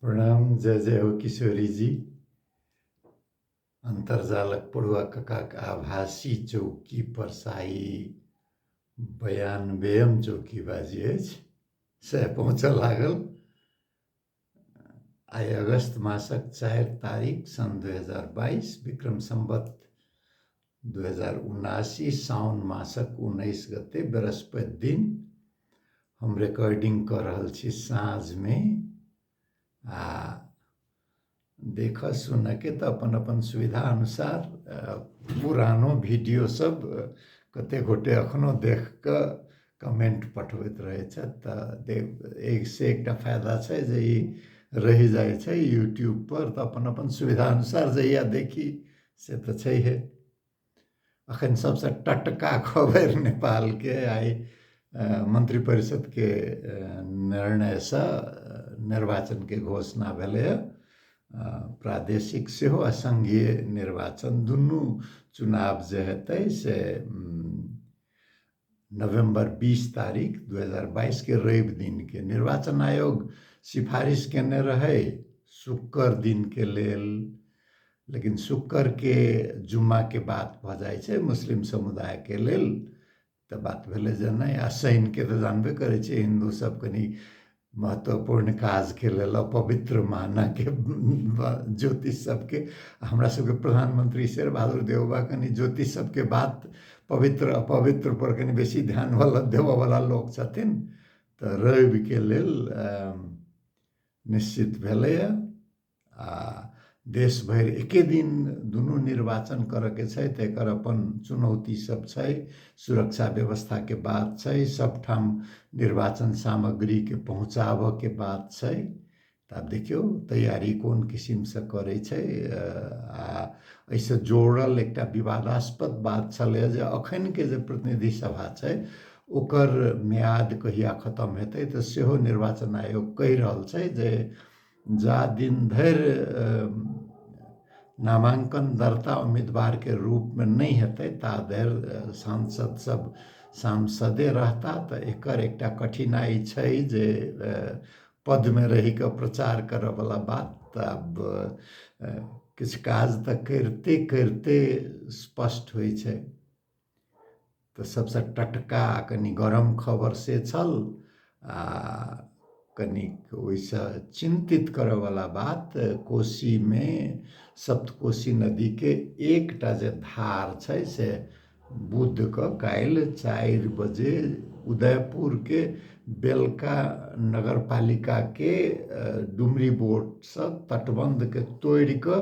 प्रणाम जय जय हो किशोरी जी अन्तर्जालक पढ़ुआ ककाक आभासी चौकी परसाई बयानबेम चौकी बाजी अछि सएह पहुँचऽ लागल आइ अगस्त मासक चारि तारीख सन् दू हजार बाइस विक्रम सम्बत दू हजार उनासी साउन मासक उन्नैस गते बृहस्पति दिन हम रिकॉर्डिंग कऽ रहल छी साँझमे आ देखऽ सुनऽके तऽ अपन अपन सुविधा अनुसार पुरानो वीडियो सब कते गोटे एखनो देख कऽ कमेन्ट पठबैत रहै छथि तऽ देख एक से एकटा फायदा छै जे ई रहि जाइ छै यूट्यूब पर तऽ अपन अपन सुविधा अनुसार जहिया देखी से तऽ छैहे अखन सबसँ टटका खबर नेपालके आइ मन्त्री परिषदके निर्णयसँ निर्वाचनके घोषणा भेलैए प्रादेशिक सेहो आ सङ्घीय निर्वाचन दुनू चुनाव जे हेतै से नवम्बर बीस तारीख दू हजार बाइसके रवि दिनके निर्वाचन आयोग सिफारिश केने रहै शुक्र दिनके लेल लेकिन शुक्रके जुम्माके बात भऽ जाइ छै मुस्लिम समुदायके लेल तऽ बात भेलै जे नहि आ शनिके तऽ जानबे करै छियै हिन्दूसभ कनि महत्वपूर्ण काजके लेल अपवित्र मानऽके ज्योतिष सबके हमरा सबके प्रधानमंत्री शेर बहादुर देवबा कनि ज्योतिष सबके बात पवित्र अपवित्र पर कनि बेसी ध्यान वाला देबऽ वाला लोक छथिन तऽ रविके लेल निश्चित भेलैया आ देश भरि एके दिन दुनू निर्वाचन करयके छै तऽ एकर अपन चुनौती सब छै सुरक्षा व्यवस्थाके बात छै सबठाम निर्वाचन सामग्रीके पहुँचाबयके बात छै तऽ आब देखियौ तैयारी कोन किसिमसँ करै छै आ एहिसँ जोड़ल एकटा विवादास्पद बात छलै जे अखनके जे प्रतिनिधि सभा छै ओकर म्याद कहिया खतम हेतै तऽ सेहो निर्वाचन आयोग कहि रहल छै जे जा दिन धरि नामाङ्कन दर्ता उम्मीदवारके रूपमे नहि हेतै ता धरि सांसद सब सांसदे रहता तऽ एकर एकटा कठिनाइ छै जे पदमे रहिकऽ प्रचार करऽवला बात तऽ आब किछु काज तऽ करिते करिते स्पष्ट होइ छै तऽ सभसँ टटका आ कनि गरम खबर से छल आ कनिक ओहिसँ चिन्तित करयवला बात कोशीमे सप्तकोशी नदीके एकटा जे धार छै से बुधके काल्हि चारि बजे उदयपुरके बेलका नगरपालिकाके डुमरी बोर्डसँ तटबन्धके तोड़ि कऽ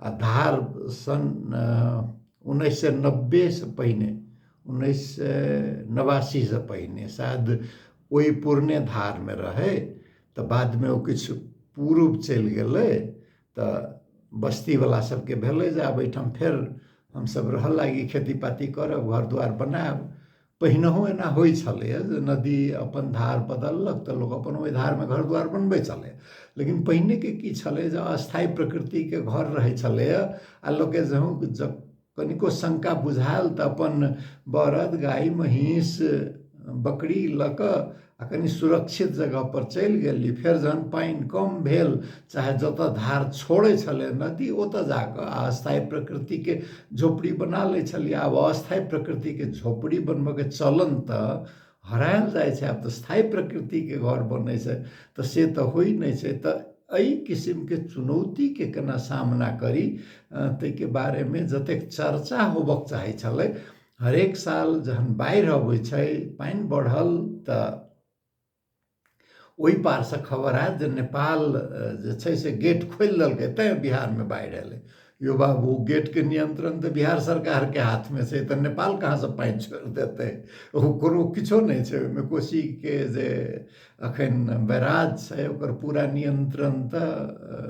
आ धार सन् उन्नैस सय नब्बेसँ पहिने उन्नैस सय नबासीसँ पहिने शायद ओहि पुरने धारमे रहै तऽ बादमे ओ किछु पूर्व चलि गेलै तऽ बस्तीवला सभके भेलै जे आब एहिठाम फेर हमसभ रहय लागी खेती पाती करब घर दुआरि बनायब पहिनहु एना होइ छलैए जे नदी अपन धार बदललक तऽ लोक अपन ओहि धारमे घर दुआर बनबै छलै लेकिन पहिनेके की छलै जे अस्थायी प्रकृतिके घर रहै छलैए आ लोकके जहूँ जब कनिको शंका बुझायल तऽ अपन बरद गाय महींस बकरी लऽ कऽ आ कनि सुरक्षित जगह पर चलि गेली फेर जहन पानि कम भेल चाहे जतऽ धार छोड़ै छलै नदी ओतऽ जाकऽ अस्थायी प्रकृतिके झोपड़ी बना लै छलियै आब अस्थायी प्रकृतिके झोपड़ी बनबऽके चलन तऽ हरायल जाइ छै आब तऽ स्थायी प्रकृतिके घर बनै छै तऽ से तऽ होइ नहि छै तऽ एहि किसिमके चुनौतीके केना सामना करी ताहिके बारेमे जतेक चर्चा होबक चाहै छलै हरेक साल जहन बाढ़ि अबै छै पानि बढ़ल तऽ ओहि पारसँ खबर आयल जे नेपाल जे छै से गेट खोलि देलकै तैँ बिहारमे बाढ़ि एलै यो बाबू गेटके नियंत्रण तऽ बिहार सरकारके हाथमे छै तऽ नेपाल कहाँसँ पानि छोड़ि देतै ओ कोनो किछो नहि छै ओहिमे कोशीके जे अखन बैराज छै ओकर पूरा नियंत्रण तऽ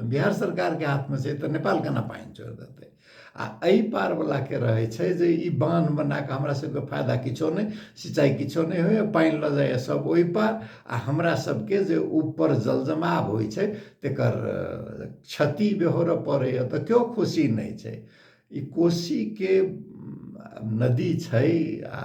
बिहार सरकारके हाथमे छै तऽ नेपाल केना पानि छोड़ि देतै आ एहि पारवलाके रहै छै जे ई बान्ह बना कऽ हमरा सभके फायदा किछो नहि सिंचाइ किछो नहि होइए पानि लऽ जाइए सभ ओहि पार आ हमरा सभके जे ऊपर जल जमाव होइ छै तेकर क्षति बेहोरऽ पड़ैए तऽ केओ खुशी नहि छै ई कोसीके नदी छै आ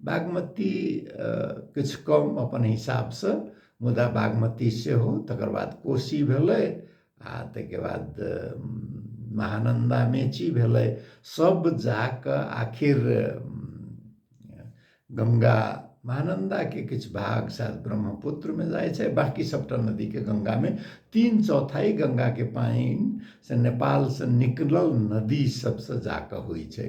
बागमती किछु कम अपन हिसाबसँ मुदा बागमती सेहो तकर बाद कोशी भेलै आ ताहिके बाद महानन्दा मेची भेलै सब जा कऽ आखिर गङ्गा महानन्दाके किछु भाग शायद ब्रह्मपुत्रमे जाइ छै बाँकी सभटा नदीके गङ्गामे तीन चौथाइ गङ्गाके पानि से नेपालसँ निकलल नदी सभसँ जा कऽ होइ छै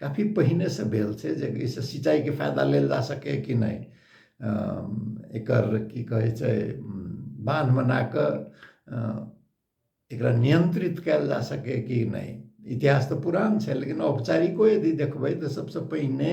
काफी पहिने से भेल छै जे एहिसँ सिंचाइके फायदा लेल जा सकैए कि नहि एकर की कहै छै बान्ह बना कऽ एकरा नियंत्रित कयल जा सकैए कि नहि इतिहास तऽ पुरान छै लेकिन औपचारिको यदि देखबै तऽ सभसँ पहिने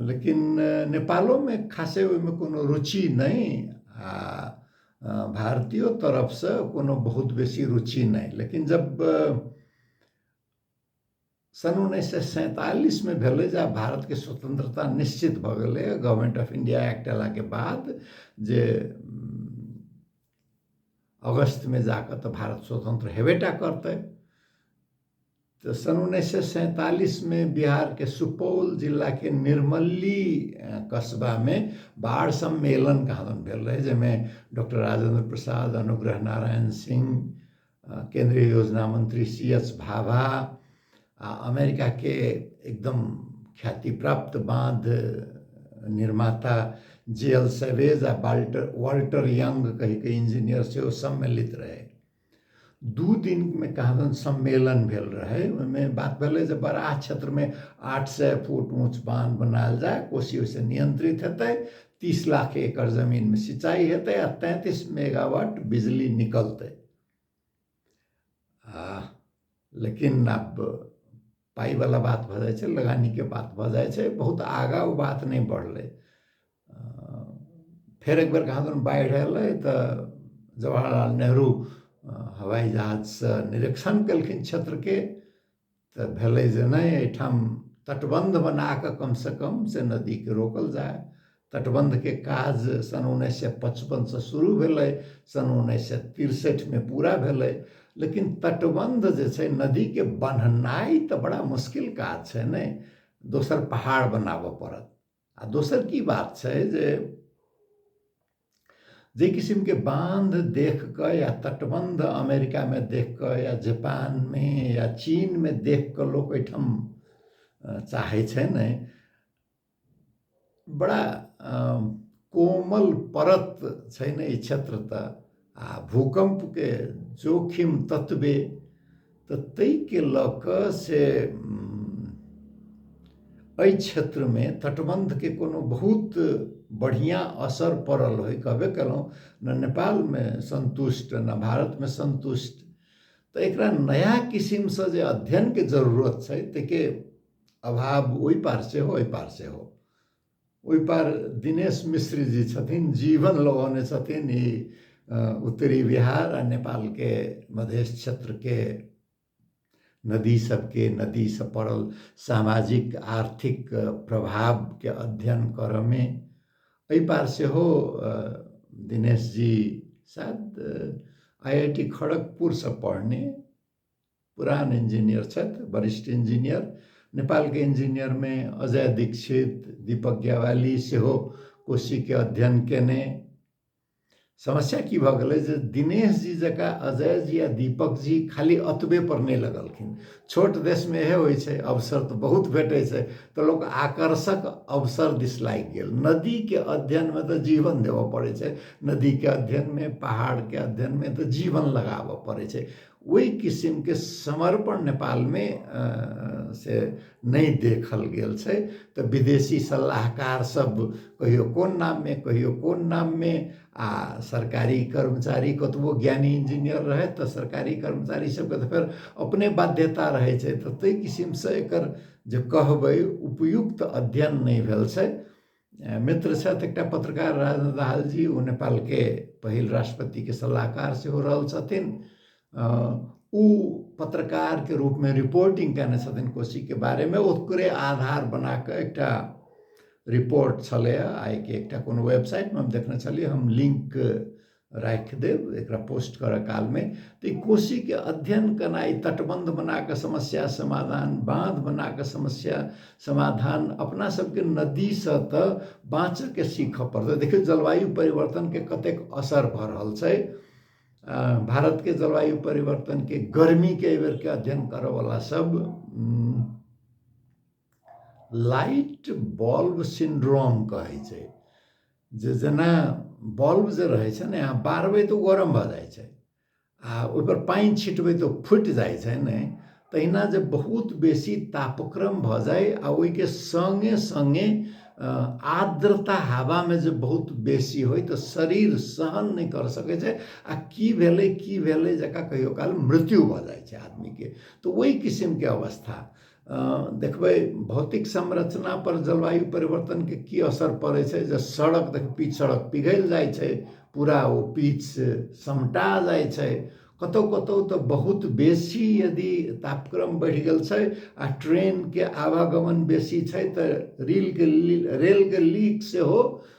लेकिन नेपालोमे खासे ओहिमे कोनो रुचि नहि आ भारतीयो तरफसँ कोनो बहुत बेसी रुचि नहि लेकिन जब सन् उन्नैस सए सैंतालिसमे भेलै जे आब भारतके स्वतंत्रता निश्चित भऽ गेलै गवर्नमेंट ऑफ इंडिया एक्ट अयलाके बाद जे अगस्तमे जा कऽ तऽ भारत स्वतंत्र हेबे टा करतै तऽ सन् उन्नैस सए सैंतालिसमे बिहारके सुपौल जिलाके निर्मली कस्बामे बाढ़ सम्मेलन कहादन भेल रहै जाहिमे डॉक्टर राजेन्द्र प्रसाद अनुग्रह नारायण सिंह केंद्रीय योजना मंत्री सी एस भाभा आ अमेरिकाके एकदम ख्याति प्राप्त बाँध निर्माता जे एल सेवेज आ वाल्टर वाल्टर यंग कहिके इंजीनियर सेहो सम्मिलित रहै दू दिनमे कहादन सम्मेलन भेल रहै ओहिमे बात भेलै जे बराह क्षेत्रमे आठ सए फुट ऊँच बाँध बनायल जाय कोशी ओहिसँ नियन्त्रित हेतै तीस लाख एकड़ जमीनमे सिंचाइ हेतै आ तैंतीस मेगावाट बिजली निकलतै आ लेकिन आब पाइवला बात भऽ जाइ छै लगानीके बात भऽ जाइ छै बहुत आगाँ ओ बात नहि बढ़लै फेर एकबेर कहाँ दन बाढ़ि अयलै तऽ जवाहरलाल नेहरू हवाइ जहाजसँ निरीक्षण केलखिन क्षेत्रके तऽ भेलै जे नहि एहिठाम तटबन्ध बना कऽ कमसँ कम से नदीकेँ रोकल जाय तटबन्धके काज सन् उन्नैस सए पचपनसँ शुरू भेलै सन् उन्नैस सए तिरसठिमे पूरा भेलै लेकिन तटबन्ध जे छै नदीके बन्हनाइ तऽ बड़ा मुश्किल काज छै ने दोसर पहाड़ बनाबऽ पड़त आ दोसर की बात छै जे जे किसिमके बान्ध देख कऽ या तटबन्ध अमेरिकामे देख कऽ या जापानमे या चीनमे देख कऽ लोक एहिठाम चाहै छै ने बड़ा कोमल परत छै ने ई क्षेत्र तऽ आ भूकम्पके जोखिम ततबे तऽ ताहिके लऽ कऽ से एहि क्षेत्रमे तटबन्धके कोनो बहुत बढ़िआँ असर पड़ल होइ कहबे केलहुँ ने नेपालमे सन्तुष्ट ने भारतमे सन्तुष्ट तऽ एकरा नया किसिमसँ जे अध्ययनके जरूरत छै ताहिके अभाव ओहि पार सेहो एहि पार सेहो ओहि पार दिनेश मिश्र जी छथिन जीवन लगौने छथिन ई उत्तरी बिहार आ नेपालके मधेश क्षेत्रके नदी सबके नदी से पड़ल सामाजिक आर्थिक प्रभावके अध्ययन करऽमे एहि पार सेहो दिनेश जी शायद आई आई टी खड़गपुरसँ पढ़ने पुरान इन्जिनियर छथि वरिष्ठ इन्जिनियर नेपालके इन्जिनियरमे अजय दीक्षित दीपक ज्ञावाली सेहो कोशीके अध्ययन केने समस्या की भऽ गेलै जे दिनेश जी जकाँ अजय जी आ दीपक जी खाली अतबे पर नहि लगलखिन छोट देशमे इहे होइ छै अवसर तऽ बहुत भेटै छै तऽ लोक आकर्षक अवसर दिस लागि गेल नदीके अध्ययनमे तऽ जीवन देबऽ पड़ै छै नदीके अध्ययनमे पहाड़के अध्ययनमे तऽ जीवन लगाबऽ पड़ै छै ओहि किसिमके समर्पण नेपालमे से नहि देखल गेल छै तऽ विदेशी सलाहकार सब कहियो कोन नाममे कहियो कोन नाममे आ सरकारी कर्मचारी कतबो ज्ञानी इंजीनियर रहै तऽ सरकारी कर्मचारी सबके तऽ फेर अपने बाध्यता रहै छै तऽ ताहि किसिमसँ एकर जे कहबै उपयुक्त अध्ययन नहि भेल छै मित्र छथि एकटा पत्रकार राजेन्द्र दाहाल जी ओ नेपालके पहिल राष्ट्रपतिके सलाहकार सेहो रहल छथिन ओ पत्रकारके रूपमे रिपोर्टिंग कयने छथिन कोशीके बारेमे ओकरे आधार बना कऽ एकटा रिपोर्ट छलैए आइके एकटा कोनो वेबसाइटमे हम देखने छलियै हम लिंक राखि देब एकरा पोस्ट करऽ कालमे तऽ ई कोशीके अध्ययन केनाइ तटबन्ध बनाकऽ समस्या समाधान बाँध बनाकऽ समस्या समाधान अपना सबके नदीसँ तऽ बाँचऽके सीखऽ पड़तै देखियौ जलवायु परिवर्तनके कतेक असर भऽ रहल छै भारतके जलवायु परिवर्तनके गर्मीके एहि बेरके अध्ययन करऽवला सब लाइट बल्ब सिंड्रोम कहै छै जे जेना बल्ब जे रहै छै ने अहाँ बारबै तऽ ओ गरम भऽ जाइ छै आ ओहिपर पानि छिटबै तऽ फुटि जाइ छै ने तहिना जे बहुत बेसी तापक्रम भऽ जाय आ ओहिके सङ्गे सङ्गे आर्द्रता हवामे जे बहुत बेसी होय तऽ शरीर सहन नहि कर सकै छै आ की भेलै की भेलै जकरा कहियो काल मृत्यु भऽ जाइ छै आदमीके तऽ ओहि किसिमके अवस्था देखबै भौतिक संरचना पर जलवायु परिवर्तनके की असर पड़ै छै जे सड़क देख पीच सड़क पिघलि जाइ छै पूरा ओ पीच से समटा जाइ छै कतौ कतौ तऽ बहुत बेसी यदि तापक्रम बढ़ि गेल छै आ ट्रेनके आवागमन बेसी छै तऽ रीलके रेलके लीक सेहो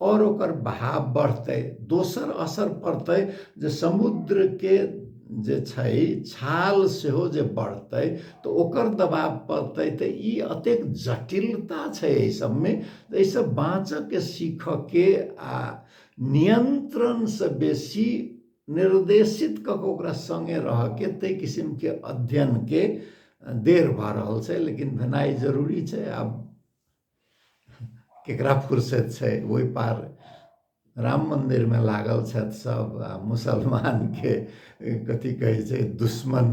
और ओकर बहाव बढ़तै दोसर असर पड़तै जे समुद्र के जे छै छाल सेहो जे बढ़तै तऽ ओकर दबाव पड़तै तऽ ई अतेक जटिलता छै एहि सबमे एहि सब बाँचऽ के सीखऽ के आ नियंत्रण से बेसी निर्देशित कऽ के ओकरा संगे रह के ताहि किसिम के अध्ययन के देर भऽ रहल छै लेकिन भेनाइ जरूरी छै आब केकरा फुर्सत छै ओहि पार राम मन्दिरमे लागल छथि सभ आ मुसलमानके कथी कहै छै दुश्मन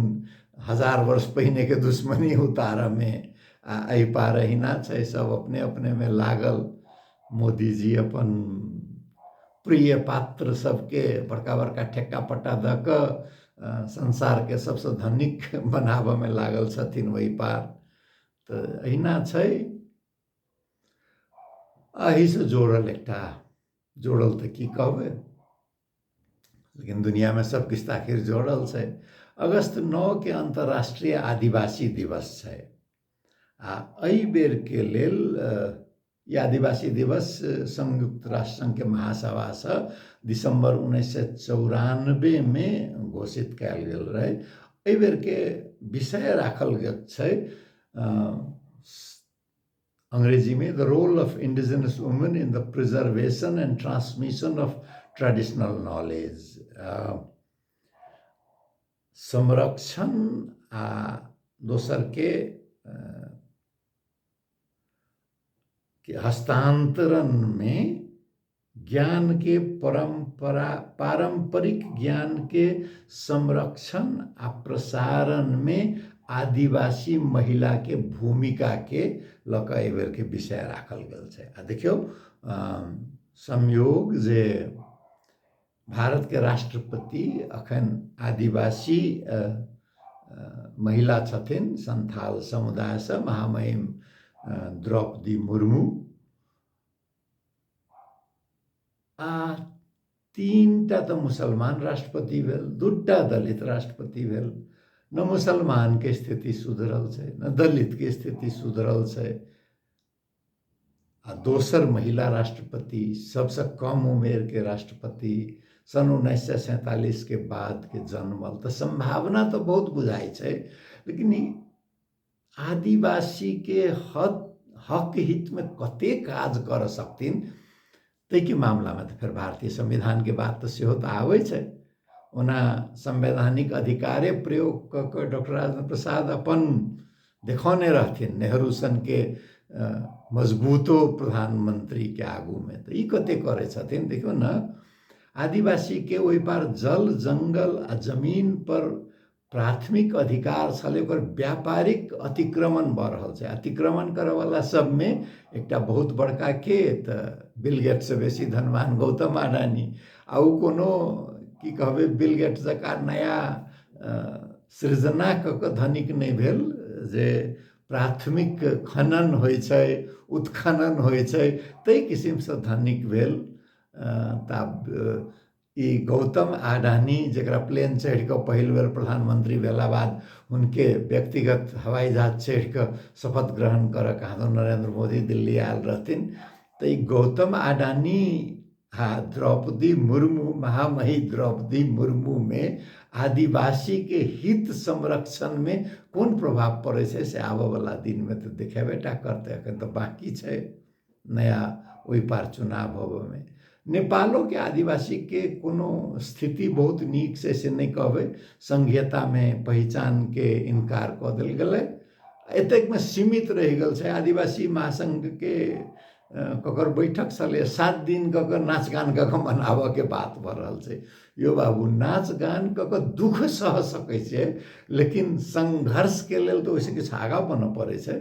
हजार वर्ष पहिनेके दुश्मनी उतारऽमे आ एहि पार अहिना छै सभ अपने अपनेमे लागल मोदीजी अपन प्रिय पात्र सभके बड़का बड़का ठेक्का पट्टा दऽ कऽ संसारके सभसँ धनिक बनाबऽमे लागल छथिन ओहि पार तऽ अहिना छै एहिसँ जोड़ल एकटा जोड़ल तऽ की कहबै लेकिन दुनिआँमे सभकिछु तऽ आखिर जोड़ल छै अगस्त नओके अन्तर्राष्ट्रीय आदिवासी दिवस छै आ एहि बेरके लेल ई आदिवासी दिवस संयुक्त राष्ट्र संघ के महासभा से दिसंबर उन्नैस सए चौरानबे मे घोषित कयल गेल रहै एहि बेर के विषय राखल गेल छै अंग्रेजी में the role of indigenous women in the preservation and transmission of traditional knowledge संरक्षण आ दोसर के कि हस्तांतरण में ज्ञान के परंपरा पारंपरिक ज्ञान के संरक्षण आ प्रसारण में आदिवासी महिला के भूमिका के लक एहि बेर के विषय राखल गेल छै आ देखियौ संयोग जे भारतके राष्ट्रपति अखन आदिवासी महिला छथिन सन्थाल समुदायसँ महामहिम द्रौपदी मुर्मू आ तीनटा तऽ मुसलमान राष्ट्रपति भेल दूटा दलित राष्ट्रपति भेल न मुसलमानके स्थिति सुधरल छै न दलितके स्थिति सुधरल छै आ दोसर महिला राष्ट्रपति सबसँ कम उमेरके राष्ट्रपति सन् उन्नैस सए सैंतालिसके बादके जन्मल तऽ सम्भावना तऽ बहुत बुझाइ छै लेकिन ई आदिवासीके हक हक हितमे कते काज करऽ सकथिन ताहिके मामलामे तऽ फेर भारतीय संविधानके बात तऽ सेहो तऽ आबै छै ओना संवैधानिक अधिकारे प्रयोग कऽ कऽ डॉक्टर राजेन्द्र प्रसाद अपन देखौने रहथिन नेहरू सनके मजबूतो प्रधानमंत्रीके आगूमे तऽ ई कते करै छथिन देखियौ ने आदिवासीके ओहि पार जल जंगल आ जमीन पर प्राथमिक अधिकार छलै ओकर व्यापारिक अतिक्रमण भऽ रहल छै अतिक्रमण करयवला सभमे एकटा बहुत बड़का के तऽ बिलगेटसँ बेसी धनवान गौतम अडानी आ ओ कोनो की कहबै बिलगेट जकाँ नया सृजना कऽ कऽ धनिक नहि भेल जे प्राथमिक खनन होइ छै उत्खनन होइ छै ताहि किसिमसँ धनिक भेल तऽ आब ई गौतम आडानी जकरा प्लेन चढ़ि कऽ पहिल बेर प्रधानमंत्री भेला बाद हुनके व्यक्तिगत हवाई जहाज चढ़ि कऽ शपथ ग्रहण करऽ कहाँ नरेंद्र मोदी दिल्ली आयल रहथिन तऽ ई गौतम आडानी आ द्रौपदी मुर्मू महामही द्रौपदी मुर्मू मे आदिवासी के हित संरक्षण मे कोन प्रभाव पड़ै छै से आबऽ बला दिन मे तऽ देखेबे टा करतै अखन तऽ बाकी छै नया ओहि पार चुनाव होबऽमे नेपालोके आदिवासीके कोनो स्थिति बहुत नीक छै से नहि कहबै संघीयतामे पहिचानके इनकार कऽ देल गेलै एतेकमे सीमित रहि गेल छै आदिवासी महासंघके ककर बैठक छलै सात दिन कऽ कऽ नाच गान कऽ कऽ मनाबऽके बात भऽ रहल छै यौ बाबू नाच गान कऽ कऽ दुःख सह सकै छै लेकिन संघर्षके लेल तऽ ओहिसँ किछु आगाँ बनऽ पड़ै छै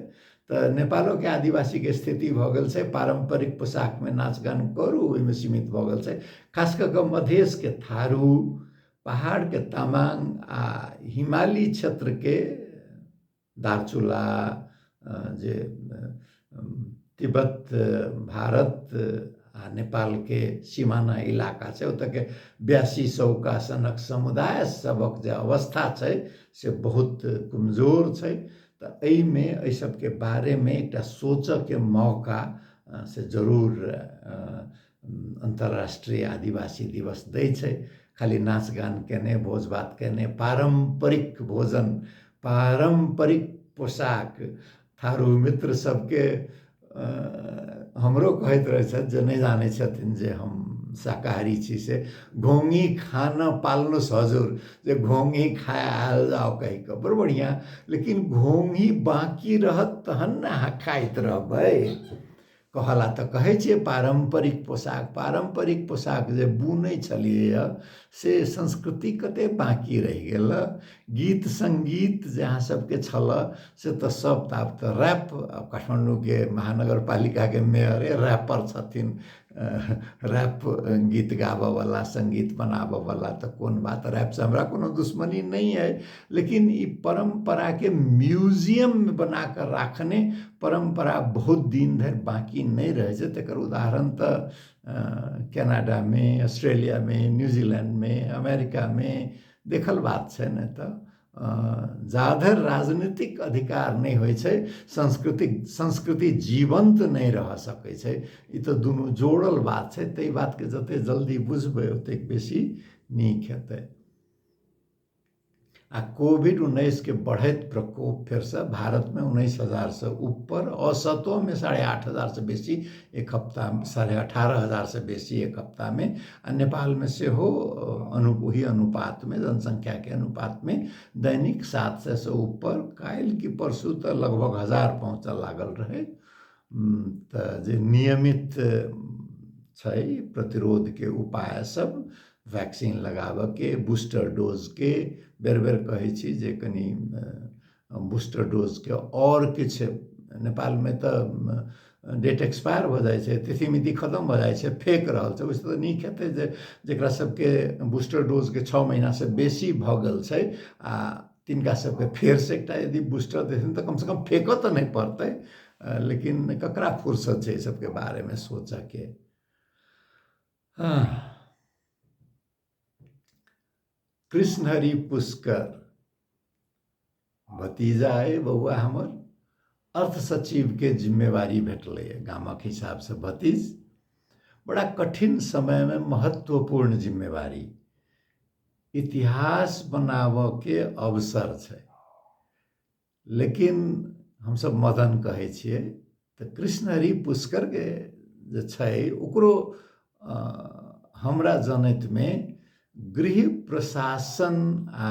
तऽ नेपालोके आदिवासीके स्थिति भऽ गेल छै पारम्परिक पोशाकमे नाच गान करू ओहिमे सीमित भऽ गेल छै खास कऽ कऽ मधेशके थारू पहाड़के तामाङ आ हिमाली क्षेत्रके दार्चुला जे तिब्बत भारत आ नेपालके सिमाना इलाका छै ओतयके ब्यासी सौका सनक समुदाय सभक जे अवस्था छै से बहुत कमजोर छै तऽ एहिमे एहि सबके बारेमे एकटा सोचऽके मौका से जरूर अन्तर्राष्ट्रीय आदिवासी दिवस दै छै खाली नाच गान केने भोज भात केने पारम्परिक भोजन पारम्परिक पोशाक थारू मित्र सबके हमरो कहैत रहै छथि जे नहि जानै छथिन जे हम शाकाहारी छी से घोंघी खाना पालनो सजोर जे घोंघी खाय आयल जाउ कहि कऽ बड़ बढ़िआँ लेकिन घोंघी बाँकी रहत तहन ने अहाँ खाइत रहबै कहऽ लए तऽ कहै छियै पारम्परिक पोशाक पारम्परिक पोशाक जे बुनै छलियैए से संस्कृति कते बाँकी रहि गेल गीत सङ्गीत जे अहाँ सबके छलऽ से तऽ सब तऽ आब तऽ रैप आब काठमाण्डूके महानगरपालिकाके मेयरे रैपर छथिन रैप गीत गाबऽवला सङ्गीत बनाबऽवला तऽ कोन बात रैपसँ हमरा कोनो दुश्मनी नहि अइ लेकिन ई परम्पराके म्यूजियम बनाकऽ राखने परम्परा बहुत दिन धरि बाँकी नहि रहै छै तकर उदाहरण तऽ कनाडा मे ऑस्ट्रेलिया मे न्यूजीलैंड मे अमेरिका मे देखल बात छै ने तऽ जाधर राजनीतिक अधिकार नहि होइ छै सांस्कृतिक संस्कृति जीवंत नहि रह सकै छै ई तऽ दुनू जोड़ल बात छै ताहि बात के जते जल्दी बुझबै ओतेक बेसी नीक हेतै आ कोविड उन्नैसके बढ़ैत प्रकोप फेरसँ भारतमे उन्नैस हजारसँ ऊपर औसतोमे साढ़े आठ हजारसँ बेसी एक हफ्ता साढ़े अठारह हजारसँ बेसी एक हफ्तामे आ नेपालमे सेहो अनु ओही अनुपातमे जनसङ्ख्याके अनुपातमे दैनिक सात सएसँ ऊपर काल्हि कि परसू तऽ लगभग हजार पहुँचय लागल रहै तऽ जे नियमित छै प्रतिरोधके उपाय सब वैक्सीन लगाबऽके बूस्टर डोजके बेर बेर कहै छी जे कनि बूस्टर डोजके आओर किछु नेपालमे तऽ डेट एक्सपायर भऽ जाइ छै तिथि मिति खतम भऽ जाइ छै फेक रहल छै ओहिसँ तऽ नीक हेतै जे जकरा सबके बूस्टर डोजके छओ महिनासँ बेसी भऽ गेल छै आओर तिनका सबके फेरसँ एकटा यदि बूस्टर देथिन तऽ कमसँ कम फेकऽ तऽ नहि पड़तै लेकिन ककरा फुर्सत छै एहि सबके बारेमे सोचऽके कृष्ण हरि पुष्कर भतीजा अइ बौआ हमर अर्थ सचिवके जिम्मेवारी भेटलैए गामक हिसाबसँ भतीज बड़ा कठिन समयमे महत्वपूर्ण जिम्मेवारी इतिहास बनाबऽके अवसर छै लेकिन हमसब मदन कहै छियै तऽ कृष्ण हरि पुष्करके जे छै ओकरो हमरा जनैतमे गृह प्रशासन आ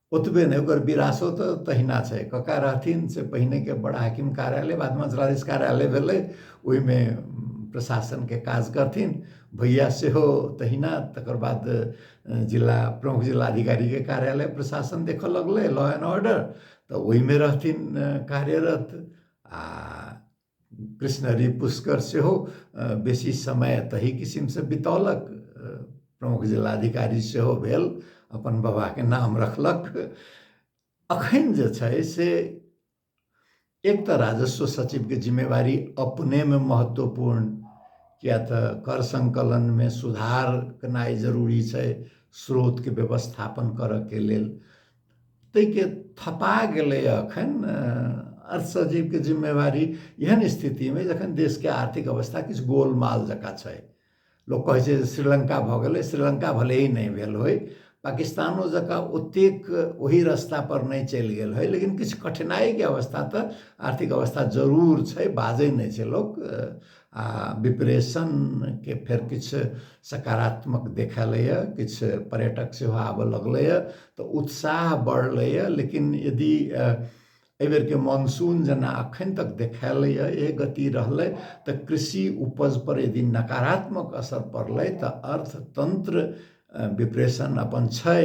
ओतबे नहि ओकर विरासो तऽ तहिना छै कक्का रहथिन से पहिनेके बड़ा हाकिम कार्यालय बादमे जिलाधीश कार्यालय भेलै ओहिमे प्रशासनके काज करथिन भैया सेहो तहिना तकर बाद जिला प्रमुख जिलाधिकारीके कार्यालय प्रशासन देखऽ लगलै लॉ एंड ऑर्डर तऽ ओहिमे रहथिन कार्यरत आ कृष्णहरि पुष्कर सेहो बेसी समय तही किसिमसँ बितौलक प्रमुख जिलाधिकारी सेहो भेल अपन बाबाके नाम रखलक अखन जे छै से एक तऽ राजस्व सचिवके जिम्मेवारी अपनेमे महत्वपूर्ण किया तऽ कर सङ्कलनमे सुधार केनाइ जरूरी छै स्रोतके व्यवस्थापन करयके लेल ताहिके थपा गेलै एखन अर्थसचिवके जिम्मेवारी एहन स्थितिमे जखन देशके आर्थिक अवस्था किछु गोलमाल जकाँ छै लोक कहै छै जे श्रीलङ्का भऽ गेलै श्रीलङ्का भले ही नहि भेल होइ पाकिस्तानो जकाँ ओतेक ओही रस्तापर नहि चलि गेल होइ लेकिन किछु कठिनाइके अवस्था तऽ आर्थिक अवस्था जरूर छै बाजै नहि छै लोक आ विप्रेशन के फेर किछु सकारात्मक देखेलैए किछु पर्यटक सेहो आबऽ लगलैए तऽ उत्साह बढ़लैए लेकिन यदि एहि बेरके मानसून जेना अखन तक देखेलैए ए गति रहलै तऽ कृषि उपज पर यदि नकारात्मक असर पड़लै तऽ अर्थतंत्र विप्रेशन अपन छै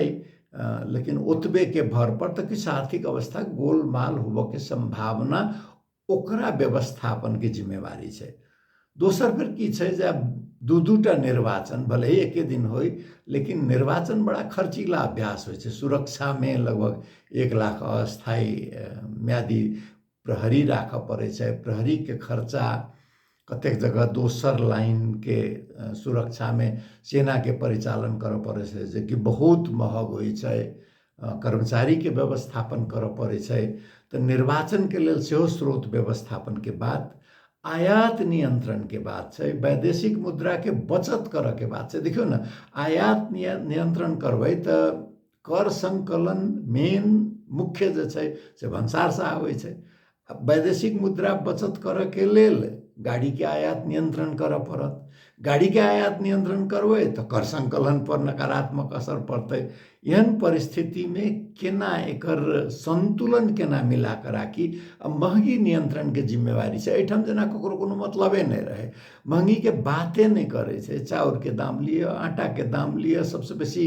लेकिन ओतबे के भर पर तऽ किछु आर्थिक अवस्था गोलमाल होबऽ के संभावना ओकरा व्यवस्थापनके जिम्मेवारी छै दोसर फेर की छै जे दू दू टा निर्वाचन भले ही एके दिन होइ लेकिन निर्वाचन बड़ा खर्चीला अभ्यास होइ छै सुरक्षामे लगभग एक लाख अस्थायी म्यादी प्रहरी राखऽ पड़ै छै प्रहरीके खर्चा कतेक जगह दोसर लाइनके सुरक्षामे सेनाके परिचालन करऽ पड़ै छै जेकि बहुत महग होइ छै कर्मचारीके व्यवस्थापन करऽ पड़ै छै तऽ निर्वाचनके लेल सेहो स्रोत व्यवस्थापनके बात आयात नियन्त्रणके बात छै वैदेशिक मुद्राके बचत करऽके बात छै देखियौ ने आयात नियन्त्रण करबै तऽ कर सङ्कलन मेन मुख्य जे छै से भन्सारसँ आबै छै आ वैदेशिक मुद्रा बचत करऽके लेल गाड़ीके आयात नियन्त्रण करऽ पड़त गाड़ीके आयात नियन्त्रण करबै तऽ कर सङ्कलन पर नकारात्मक असर पड़तै एहन परिस्थितिमे केना एकर सन्तुलन केना मिला कऽ राखी आ महगी नियन्त्रणके जिम्मेवारी छै एहिठाम जेना ककरो कोनो मतलबे नहि रहै महगीके बाते नहि करै छै चाउरके दाम लिअ आटाके दाम लिअ सभसँ बेसी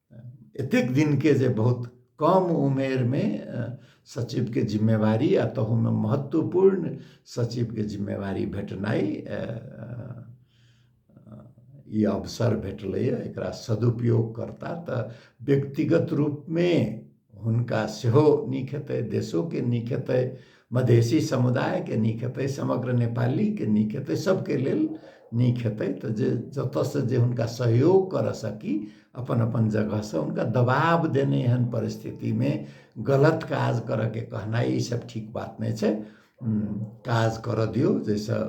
एतेक दिनके जे बहुत कम उमेरमे सचिवके जिम्मेवारी आ तहूमे महत्वपूर्ण सचिवके जिम्मेवारी भेटनाइ ई अवसर भेटलैए एकरा सदुपयोग करता तऽ व्यक्तिगत रूपमे हुनका सेहो नीक हेतै देशोके नीक हेतै मधेसी समुदायके नीक हेतै समग्र नेपालीके नीक हेतै सभके लेल नीक हेतै तऽ जे जतयसँ जे हुनका सहयोग करय सकी अपन अपन जगहसँ हुनका दबाव देने एहन परिस्थितिमे गलत काज करयके कहनाइ ईसभ ठीक बात नहि छै काज करऽ दियौ जाहिसँ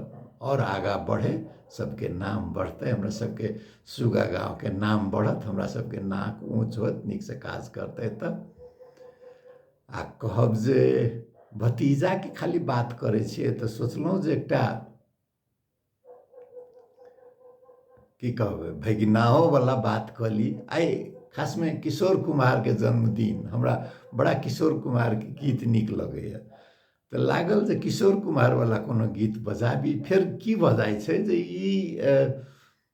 आओर आगाँ बढ़य सभके नाम बढ़तै हमरा सभके सुग्गा गाँवके नाम बढ़त हमरा सभके नाक ऊँच होत नीकसँ काज करतै तऽ आ कहब जे भतीजाके खाली बात करै छियै तऽ सोचलहुँ जे एकटा की कहबै भगिनाओवला बात कऽ ली आइ खासमे किशोर कुमारके जन्मदिन हमरा बड़ा किशोर कुमारके गीत नीक लगैए तऽ लागल जे किशोर कुमारवला कोनो गीत बजाबी फेर की भऽ जाइ छै जे ई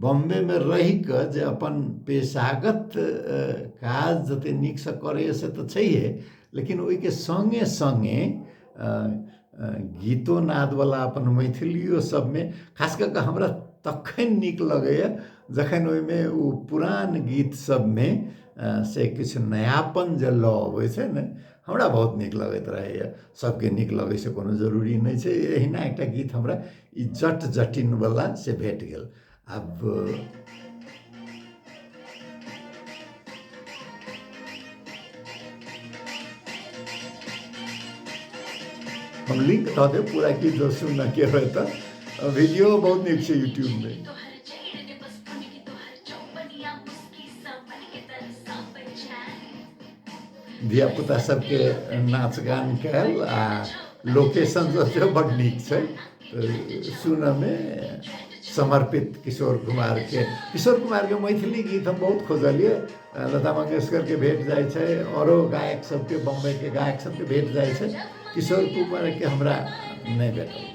बम्बेमे रहि कऽ जे अपन पेशागत काज जतेक नीकसँ करैए से तऽ छैहे लेकिन ओहिके सङ्गे सङ्गे गीतो नादवला अपन मैथिलिओ सभमे खास कऽ कऽ हमरा तखन नीक लगैए जखन ओहिमे ओ पुरान गीत सभमे से किछु नयापन जे लऽ अबै छै ने हमरा बहुत नीक लगैत रहैए सभके नीक लगै से कोनो जरूरी नहि छै एहिना एकटा गीत हमरा ई जट जटिन वाला से भेट गेल आब हम लिंक दऽ देब पूरा की जो सुनना के होय तऽ वीडियो बहुत नीक छै यूट्यूब मे धियापुता सबके नाच गान कयल आ लोकेशन सब सेहो बड्ड नीक छै सुनऽमे समर्पित किशोर कुमारके किशोर कुमारके मैथिली गीत हम बहुत खोजलियै लता मंगेशकरके भेट जाइ छै आओरो गायक सबके बम्बइके गायक सबके भेट जाइ छै किशोर कुमारके हमरा नहि भेटल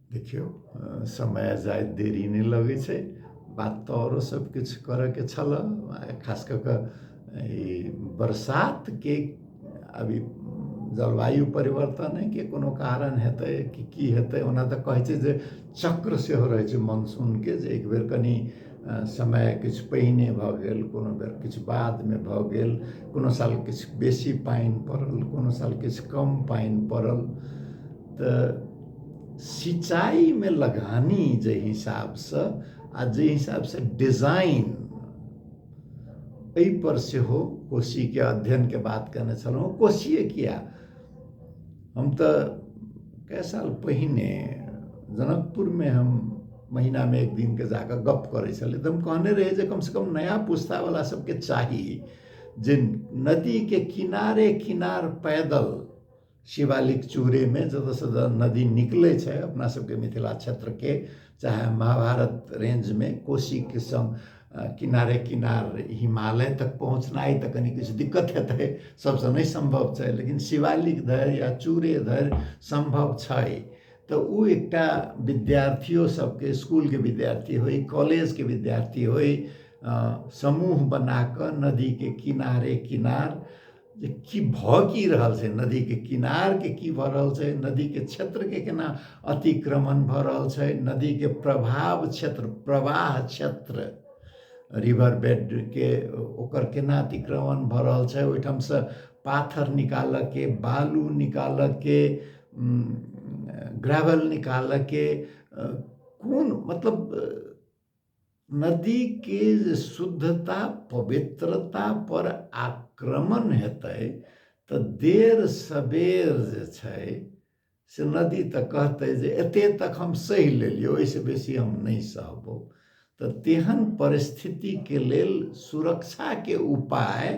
देखियौ समय जाइत देरी नहि लगै छै बात तऽ आओरो सब किछु करऽके छलऽ खास कऽ कऽ ई बरसातके अभी जलवायु परिवर्तनेके कोनो कारण हेतै कि की हेतै ओना तऽ कहै छै जे चक्र सेहो रहै छै मानसूनके जे एक बेर कनि समय किछु पहिने भऽ गेल कोनो बेर किछु बादमे भऽ गेल कोनो साल किछु बेसी पानि पड़ल कोनो साल किछु कम पानि पड़ल तऽ सिंचाइमे लगानी जे हिसाबसँ आ जे हिसाबसँ डिजाइन एहिपर सेहो कोशीके अध्ययनके बात कयने छलहुँ कोशिए किया हम तऽ कए साल पहिने जनकपुरमे हम महीनामे एक दिनके जा कऽ गप्प करै छलियै तऽ हम कहने रही जे कमसँ कम नया पुस्तावला सभके चाही जे नदीके किनारे किनार पैदल शिवालिक चूरेमे जतऽसँ जतऽ नदी निकलै छै अपना सबके मिथिला क्षेत्रके चाहे महाभारत रेंजमे कोशीके सङ्ग किनारे किनार हिमालय तक पहुँचनाइ तऽ कनि किछु दिक्कत हेतै सबसँ नहि सम्भव छै लेकिन शिवालिक धरि या चूरे धरि सम्भव छै तऽ ओ एकटा विद्यार्थियो सबके इसकुलके विद्यार्थी होइ कॉलेजके विद्यार्थी होइ समूह बनाकऽ नदीके किनारे किनार जे की भऽ की रहल छै नदीके किनारके की भऽ रहल छै नदीके क्षेत्रके केना अतिक्रमण भऽ रहल छै नदीके प्रभाव क्षेत्र प्रवाह क्षेत्र रिवर बेडके ओकर केना अतिक्रमण भऽ रहल छै ओहिठामसँ पाथर निकालऽके बालू निकालऽके ग्रेवल निकालऽके कोन मतलब नदी के जे शुद्धता पवित्रता पर आक्रमण हेतै तऽ देर सबेर जे छै से नदी तऽ कहतै जे एते तक हम सहि लेलियौ ओहिसँ बेसी हम नहि सहबौ तऽ तेहन परिस्थितिके लेल सुरक्षाके उपाय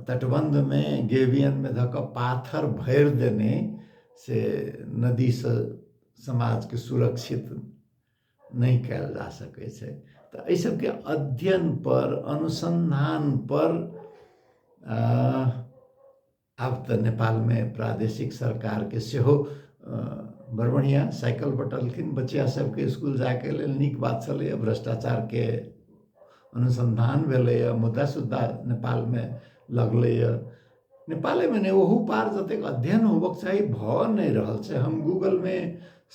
तटबन्धमे गेबियनमे धऽ कऽ पाथर भरि देने से नदीसँ समाजके सुरक्षित नहि कयल जा सकै छै तऽ एहि सभके अध्ययन पर अनुसन्धान पर आब तऽ नेपालमे प्रादेशिक सरकारके सेहो बड़ बढ़िआँ साइकिल बँटलखिन बच्चा सभके इसकुल जायके लेल नीक बात छलैए भ्रष्टाचारके अनुसन्धान भेलैए मुद्दा सुद्धा नेपालमे लगलैए नेपाले भने ओहू पार जतेक अध्ययन होबक चाही भऽ नहि रहल छै हम गूगलमे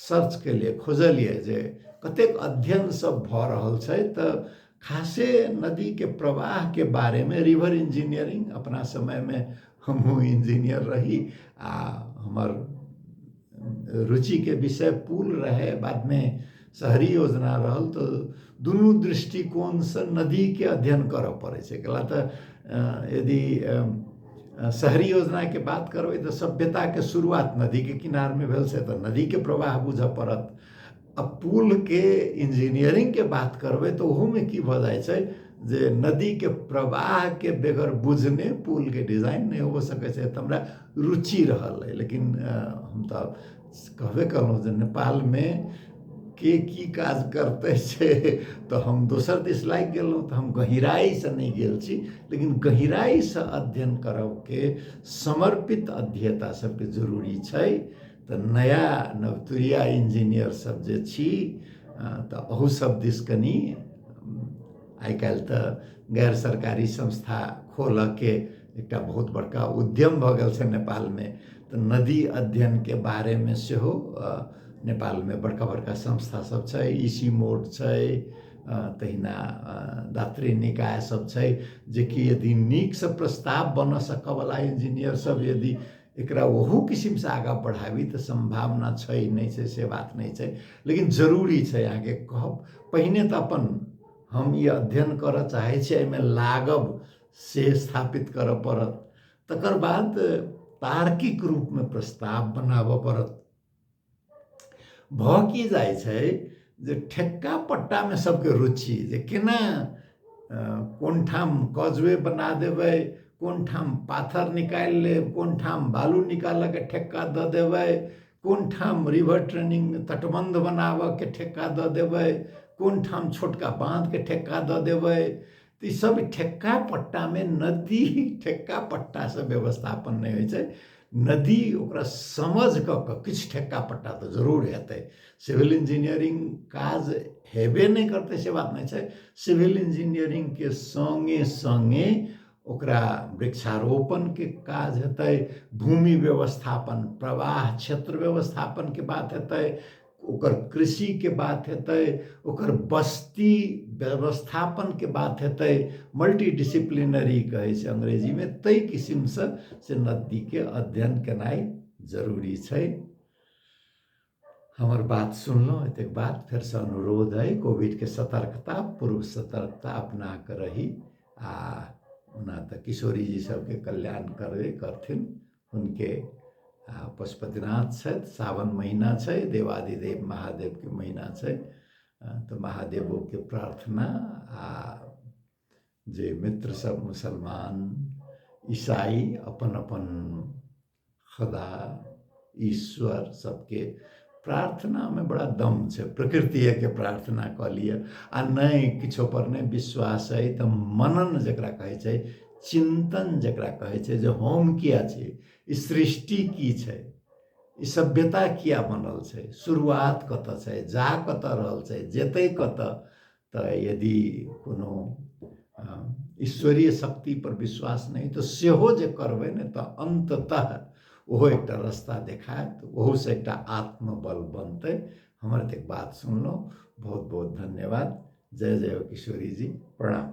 सर्च केलियै खोजलियै जे कतेक अध्ययन सब भऽ रहल छै तऽ खासे नदीके प्रवाहके बारेमे रिवर इंजीनियरिंग अपना समयमे हमहूँ इंजीनियर रही आ हमर रुचिके विषय पुल रहै बादमे शहरी योजना रहल तऽ दुनू दृष्टिकोणसँ नदीके अध्ययन करऽ पड़ै छै कला तऽ यदि शहरी योजनाके बात करबै तऽ सभ्यताके शुरुआत नदीके किनारमे भेल से तऽ नदीके प्रवाह बुझऽ पड़त आ पुलके इंजीनियरिंगके बात करबै तऽ ओहोमे की भऽ जाइ छै जे नदीके प्रवाहके बेगर बुझने पुलके डिजाइन नहि हो सकै छै तऽ हमरा रुचि रहल अइ लेकिन हम तऽ कहबे कयलहुँ जे नेपालमे के की काज करतै से तऽ हम दोसर दिस लागि गेलहुँ तऽ हम गहिराइसँ नहि गेल छी लेकिन गहिराइसँ अध्ययन करयके समर्पित अध्येता सभके जरूरी छै तऽ नया नवतुरिया इंजीनियर सब जे छी तऽ अहू सब दिस कनी आइ काल्हि तऽ गैर सरकारी संस्था खोलऽके एकटा बहुत बड़का उद्यम भऽ गेल छै नेपालमे तऽ नदी अध्ययनके बारेमे सेहो नेपालमे बड़का बड़का संस्था सब छै ईसी मोड छै तहिना दात्री निकाय सब छै जेकि यदि नीकसँ प्रस्ताव बनऽ सकऽवला इंजीनियर सब यदि एकरा ओहू किसिमसँ आगाँ बढ़ाबी तऽ सम्भावना छै नहि छै से बात नहि छै लेकिन जरूरी छै अहाँके कहब पहिने तऽ अपन हम ई अध्ययन करऽ चाहै छी एहिमे लागब से स्थापित करऽ पड़त तकर बाद तार्किक रूपमे प्रस्ताव बनाबऽ पड़त भऽ की जाइ छै जे ठेक्का पट्टामे सभके रुचि जे केना कोन ठाम कजवे बना देबै कोन ठाम पाथर निकालि लेब कोन ठाम बालू निकालऽके ठेक्का दऽ देबै कोन ठाम रिवर ट्रेनिंग तटबंध बनाबऽके ठेक्का दऽ देबै कोन ठाम छोटका बाँधके ठेक्का दऽ देबै तऽ ईसभ ठेक्का पट्टामे नदी ठेक्का पट्टासँ व्यवस्थापन नहि होइ छै नदी ओकरा समझ कऽ कऽ किछु ठेक्का पट्टा तऽ जरूर हेतै सिविल इंजीनियरिंग काज हेबे नहि करतै से बात नहि छै सिविल इंजीनियरिंगके सङ्गे सङ्गे ओकरा वृक्षारोपणके काज हेतै भूमि व्यवस्थापन प्रवाह क्षेत्र व्यवस्थापनके बात हेतै ओकर कृषिके बात हेतै ओकर बस्ती व्यवस्थापनके बात हेतै मल्टी डिसिप्लिनरी कहै छै अङ्ग्रेजीमे ताहि किसिमसँ से नदीके अध्ययन केनाइ जरूरी छै हमर बात सुनलहुँ एतेक बात फेरसँ अनुरोध अइ कोभिडके सतर्कता पूर्व सतर्कता अपनाके रही आ ओना तऽ किशोरीजी सभके कल्याण करबे करथिन हुनके आ पशुपतिनाथ छथि सावन महिना छै देवादिदेव महादेवके महिना छै तऽ महादेवोके प्रार्थना आ जे मित्र सब मुसलमान ईसाई अपन अपन खुदा ईश्वर सबके प्रार्थनामे बड़ा दम छै प्रकृतिएके प्रार्थना कऽ लिअ आ नहि किछोपर नहि विश्वास अइ तऽ मनन जकरा कहै छै चिन्तन जकरा कहै छै जे हम किए छी ई सृष्टि की छै ई सभ्यता किए बनल छै शुरुआत कतय छै जा कतय रहल छै जेतै कतय तऽ यदि कोनो ईश्वरीय शक्ति पर विश्वास नहि तऽ सेहो जे करबै ने तऽ अन्ततः ओहो एकटा रस्ता देखायत ओहोसँ एकटा आत्मबल बनतै हमर एतेक बात सुनलहुँ बहुत बहुत धन्यवाद जय जय किशोरी जी प्रणाम